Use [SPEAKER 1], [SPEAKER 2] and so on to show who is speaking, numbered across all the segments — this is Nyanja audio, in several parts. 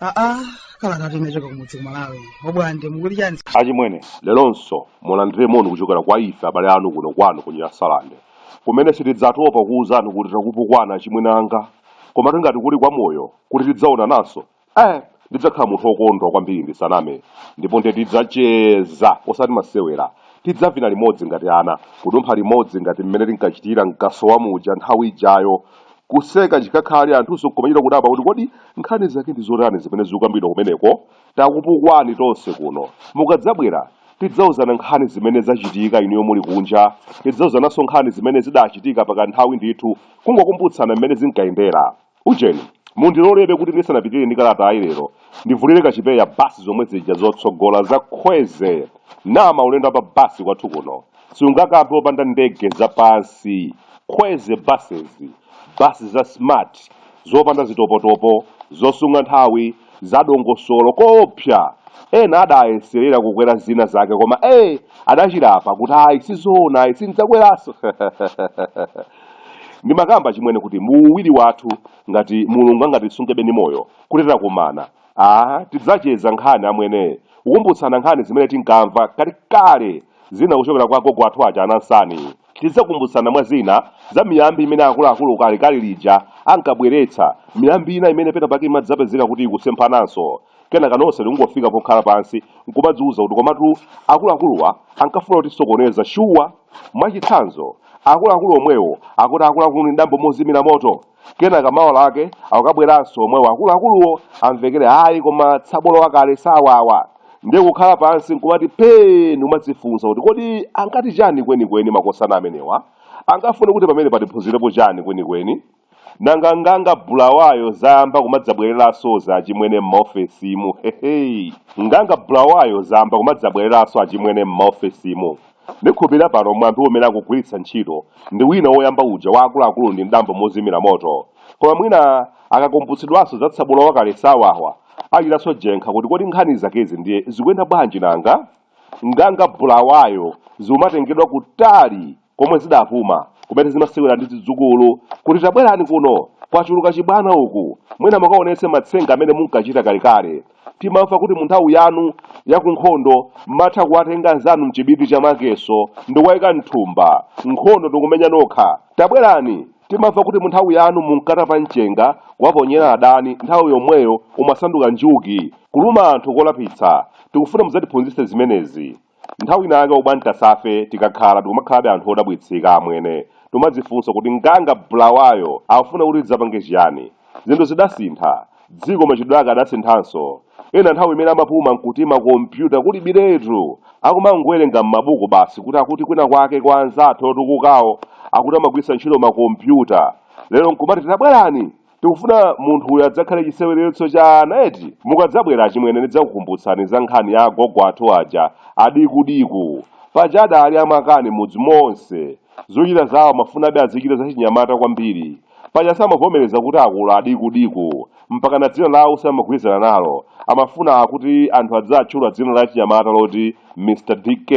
[SPEAKER 1] aa kala ngati unachoka kumudzi kumalawi obwande mukuti chani achimwene lelonso mulandire moni kuchokera kwa ife abale anu kuno kwanu ku Nyasalande kumene sitidzatopa kuwuzani kuti takupukwana achimwene anga koma tingati kuli kwa moyo kuti tidzaonananso Ee, ndidzakhala munthu wokondwa kwambiri ndisaname ndipo nde tidzacheza osati masewera tidzavina limodzi ngati ana kudumpha limodzi ngati mmene tinkachitira mkasowa muja nthawi ijayo kuseka chikakhale anthunso nkumachita kudabwa kuti kodi nkhani zake ndi zotani zimene zikukambidwa kumeneko takupukwani tonse kuno mukadzabwera tidzauzana nkhani zimene zachitika inuyo muli kunja tidzauzananso nkhani zimene zidachitika pakanthawi ndithu kungokumbutsana mmene zinkayendera Ujeni, mundilolebe kuti ndisanapitirire ndi kalatayi lero, ndivulire kachipewa basi zomwe zija zotsogola za Khweze na maulendo a pa basi kwathu kuno siungakampe opanda ndege za pansi, Khweze Buses, basi za smart, zopanda zitopotopo, zosunga nthawi, zadongosolo koopsa ena adayeselera kukwera zina zake koma ee adachilapa kuti ayi sizoona ayi sindidzakweranso ndimakamba chimwene kuti muuwiri wathu ngati mulungu angatisungebe ndi moyo kuti tidzakumana aa tidzacheza nkhani amwene kukumbutsana nkhani zimene tinkamva kale kale zina kuchokera kwa agogo athu aja anansani Tidzakumbutsana mwa zina za miyambi imene akuluakulu kalekale lija ankabweretsa, miyambi ina imene pena pake imadzapezeka kuti ikusemphananso. Kenaka nonse tikungofika pokhala pansi n'kumadziuza kuti komatu akuluakuluwa ankafuna kutisokoneza shuwa! Mwachitsanzo, akuluakulu omwewo akuti akuluakulu ndi dambo mozimira moto! Kenaka mawa lake akukabweranso omwewo akuluakuluwo amvekere ayi koma tsabola wakale sawawa. Ndiye kukhala pansi n'kumati phee ndi kumadzifunsa kuti kodi ankati chani kwenikweni makosana amenewa? Ankafuna kuti pamenepa tiphunzirepo chani kwenikweni? Nanga nganga Bulawayo zayamba kumadzabwereransozi achimwene m'maofesimu? Heheyi. Nganga Bulawayo zayamba kumadzabwereranso achimwene m'maofesimu? Ndikhulupirira pano mwambi umene akugwiritsa ntchito ndi uja woyamba uja wa akuluakulu ndi mdambo mozimira moto. Koma mwina akakumbutsidwanso za tsabola wakale sawawa, achitanso jenkha kuti kodi nkhani zakezi ndiye zikuyenda bwanji nanga? Nganga Bulawayo zikumatengedwa kutali komwe zidapuma, kumene zimasewera ndi zidzukulu kuti tabwerani kuno, kwachuluka chibwana uku, mwina mukaonetse matsenga amene munkachita kalekale. Timamva kuti mu nthawi yanu ya ku nkhondo m'matha kuwatenga anzanu m'chibiti cha makeso ndikuwaika m'thumba. Nkhondo ndikumenya nokha. Tabwerani! Timamva kuti mu nthawi yanu munkatapa mchenga kuwaponyera adani nthawi yomweyo umasanduka njuki, kuluma anthu kolapitsa. Tikufuna mudzatiphunzitse zimenezi. Nthawi ina yake ubwan tasafe tikakhala tikumakhalabe anthu odabwitsika amwene timadzifunsa kuti nganga bulawayo akufuna kuti tidzapange chiyani? Zinthu zidasintha, dziko machitidwe ake adasinthanso, ena nthawi imene amapuma nkuti ma computer kulibiretu akumangowerenga mmabuku basi kuti akuti kwina kwake kwa anzathu otukukawo akuti amagwiritsa ntchito ma computer lero nkumati tabwerani Tikufuna munthu uyu adzakhale chiseweretso cha ana eti? Mukadzabwera achimwene ndidzakukumbutsani za nkhani ya agogo athu aja a Diku Diku. Paja adaali amakani m'mudzi monse. Zochita zawo amafunabe azichita zachinyamata kwambiri. Paja samavomereza kuti akula a Diku Diku. Mpakana dzina lawo samagwirizana nalo. Amafuna kuti anthu adziatchula dzina lachinyamata loti Mr. DK.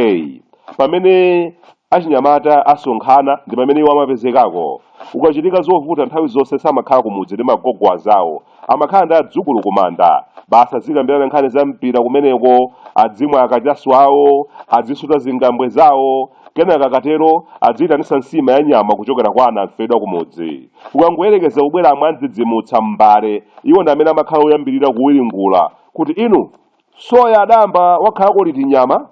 [SPEAKER 1] Pamene Achinyamata asonkhana ndi pamene iwo amapezekako. Kukachitika zovuta nthawi zonse samakhala kumudzi ndi magogo anzawo. Amakhala ndi adzukulu kumanda. Basi azikambirana nkhani za mpira kumeneko, adzimwa akachasu awo, adzisuta zingambwe zawo. Kenaka akatero adziitanitsa nsima ya nyama kuchokera kwa anamfedwa kumudzi. Kukangoyerekeza kubwera amwandidzidzimutsa m'mbale, iwo ndi amene amakhala oyambirira kuwiringula kuti, Inu! Soya adayamba wakhalako liti nyama?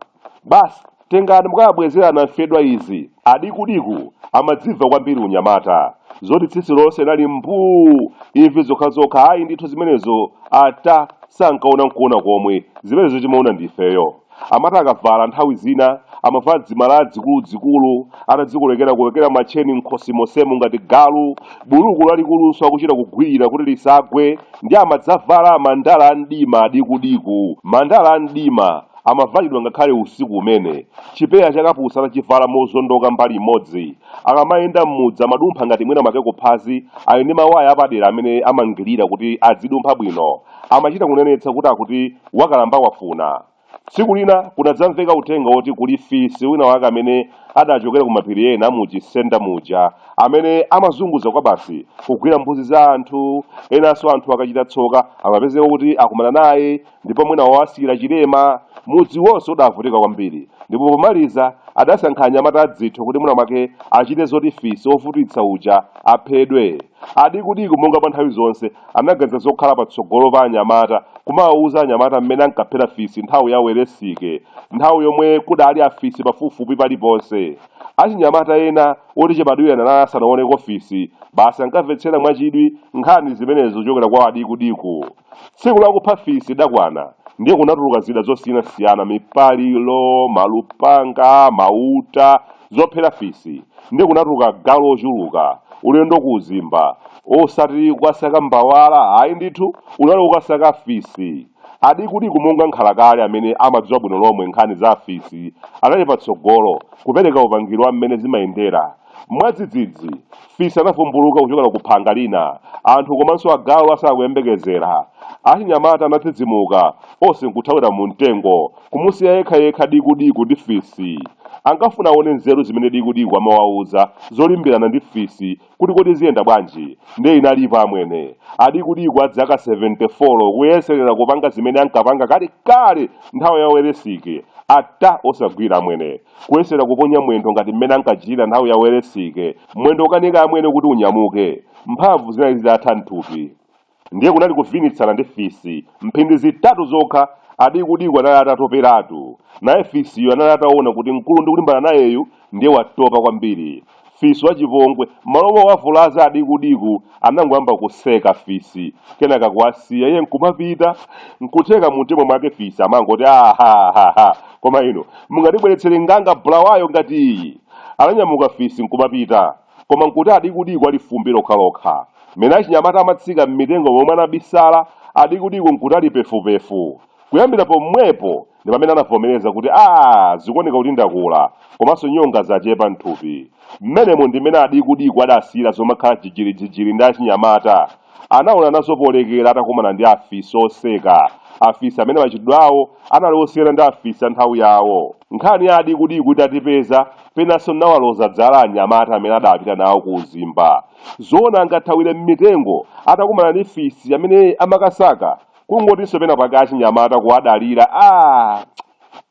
[SPEAKER 1] Basi tengani mukawabwezere anamfedwa izi, a Diku Diku amadzimva kwambiri unyamata. Zoti tsitsi lonse linali mbuu, imvi zokhazokha ayi ndithu zimenezo ata sankaona nkuona komwe, zimenezo timaona ndi ifeyo. Amati akavala nthawi zina amavala dzimalaya dzikuludzikulu atadzikolekerakolekera matcheni m'khosi monsemo ngati galu. Buluku lalikulunso akuchita kugwirira kuti lisagwe ndiye amadzavala mandala a mdima a Diku Diku. Mandala a mdima amavalidwa ngakhale usiku umene. Chipewa cha kapusi atachivala mozondoka mbali imodzi, akamayenda m'mudzi amadumpha ngati mwina mwake kuphazi ali ndi mawaya apadera amene amangirira kuti adzidumpha bwino. Amachita kunenetsa kuti akuti wakalamba wafuna. Tsiku lina kunadzamveka uthenga woti kuli fisi wina wake amene adachokera ku mapiri ena mu Chisenda muja amene amazunguza kwabasi kugwira mbuzi za anthu. Enanso anthu akachita tsoka amapezeka kuti akumana naye ndipo mwina wawasiyira chilema. Mudzi wonse udavutika kwambiri ndipo pomaliza adasankha anyamata adzitho kuti mwina mwake achite zoti fisi wovutitsa uja aphedwe. Adiku-diku monga mwa nthawi zonse, anaganiza zokhala patsogolo pa anyamata, kumawauza anyamata m'mene ankaphera fisi nthawi ya Welesike, nthawi yomwe kudaali afisi pafupifupi paliponse. Achinyamata ena oti chibadwireni anali asanaoneko fisi, basi ankamvetsera mwachidwi nkhani zimenezi zochokera kwa Adiku-diku. Tsiku lakupha fisi lidakwana, ndiye kunatuluka zida zosiynasiyana, mipaliro, malupanga, mauta, zophera fisi ndiye kunatuluka agalu ochuluka ulendo ku uzimba osati kukasaka mbawala ayi ndithu unali ukasaka fisi adikudiku monga nkhalakale amene amadziwa bwino lomwe nkhani za afisi anali patsogolo kupereka upangiri wa mmene zimayendera mwadzidzidzi fisi anavumbuluka kuchokera ku phanga lina anthu komanso agalu asakuyembekezera achinyamata anadzidzimuka onse nkuthawira mu mtengo Kumusiya yekhayekha Dikudiku ndi fisi. Ankafuna aone nzeru zimene Dikudiku amawauza zolimbirana ndi fisi kuti kodi ziyenda bwanji. Ndiye inalipo amwene. Adikudiku a zaka seventefolo kuyeserera kupanga zimene ankapanga kalekale nthawi ya Welesike. Ata! Osagwira amwene. Kuyesera kuponya mwendo ngati mmene ankachitira nthawi ya Welesike. Mwendo ukanika amwene kuti unyamuke. Mphamvu zinali zitatha m'thupi. Ndiye kunali kuvinitsana ndi fisi. Mphindi zitatu zokha, Adikudiku anali atatoperatu. Naye fisiyo anali ataona kuti mkulu ndikulimbana nayeyu ndiye watopa kwambiri. Fisi wachipongwe, m'malo mowavulaza Adikudiku, anangoyamba kuseka fisi, kenaka kuwasiya, iye nkumapita. Nkutheka mumtima mwake fisi amangoti, Ah, ha, ha, ha! Koma inu, mungatibweretsere nganga bulawayo ngati iyi? Ananyamuka fisi nkumapita. Koma nkuti adikudiku ali fumbi lokhalokha. Mmene achinyamata amatsika mmitengo momwe anabisala, adikudiku nkuti ali pefupefu. Kuyambira pomwepo ndi pamene anavomereza kuti, Aaa zikuoneka kuti ndakula, komanso nyonga zachepa mthupi. Mmenemo ndi mmene adikudiku adasiyira zomakhala jijirijijiri ndi achinyamata. Anaona nazo polekera atakumana ndi afisi oseka, afisi amene machitidwe awo anali osiyana ndi afisi a nthawi yawo. Nkhani ya adiku-diku itatipeza, penanso n'nawaloza dzala anyamata amene adaapita nawo ku uzimba. Zoona angathawire m'mitengo atakumana ndi fisi amene amakasaka? Kungotinso pena pake achinyamata kuwadalira aah!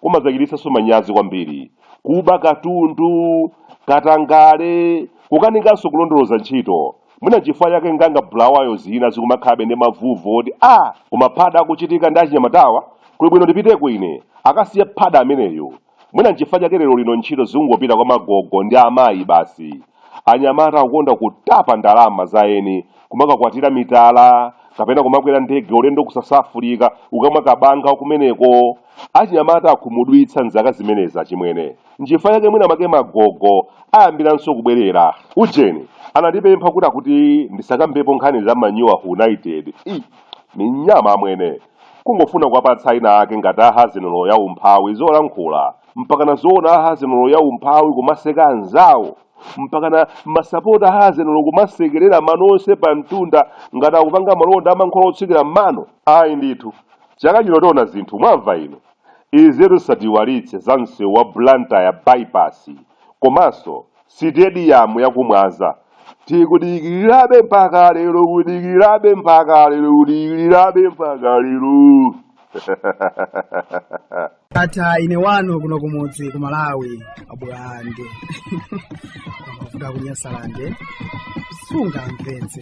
[SPEAKER 1] Kumadzachititsanso manyazi kwambiri. Kuba katundu, katangale, kukanikanso kulondoloza ntchito. mwina nchifukwa chake nganga bulawayo zina zikumakhalabe ndi mavuvu oti a koma phada akuchitika ndi achinyamatawa kuli bwino ndipiteko ine akasiye phada ameneyo mwina nchifukwa chake lero lino ntchito zikungopita kwa magogo ndi amayi basi anyamata akukonda kutapa ndalama za eni kumakakwatira mitala kapena kumakwera ndege ulendo ku Sasafulika ukamwa kabanga kumeneko achinyamata akhumudwitsa mzaka zimenezi achimwene nchifukwa chake mwina make magogo ayambiranso kubwerera ujeni anandipempha kuti akuti ndisakambepo nkhani za Man U, wa United, minyama amwene kungofuna kuwapatsa ina ake ngati ahazinolo ya umphawi zolankhula mpakana zoona ahazinolo ya umphawi kumaseka anzawo mpakana masapota ahazinolo kumasekerera mano onse pa mtunda ngati akupanga malonda amankhwala otsukira m'mano ayi ndithu chaka chino tiona zinthu mwamva inu Izitu zisatiiwalitse za msewu wa Blantyre By-pass komanso sitediyamu ya ku Mwanza. Tikudikirirabe mpaka lero kudikirirabe mpaka lero kudikirirabe mpaka lero. Ndatha ine wanu kuno kumudzi ku Malawi. abulande kuvuga kunyasalande sungamvetse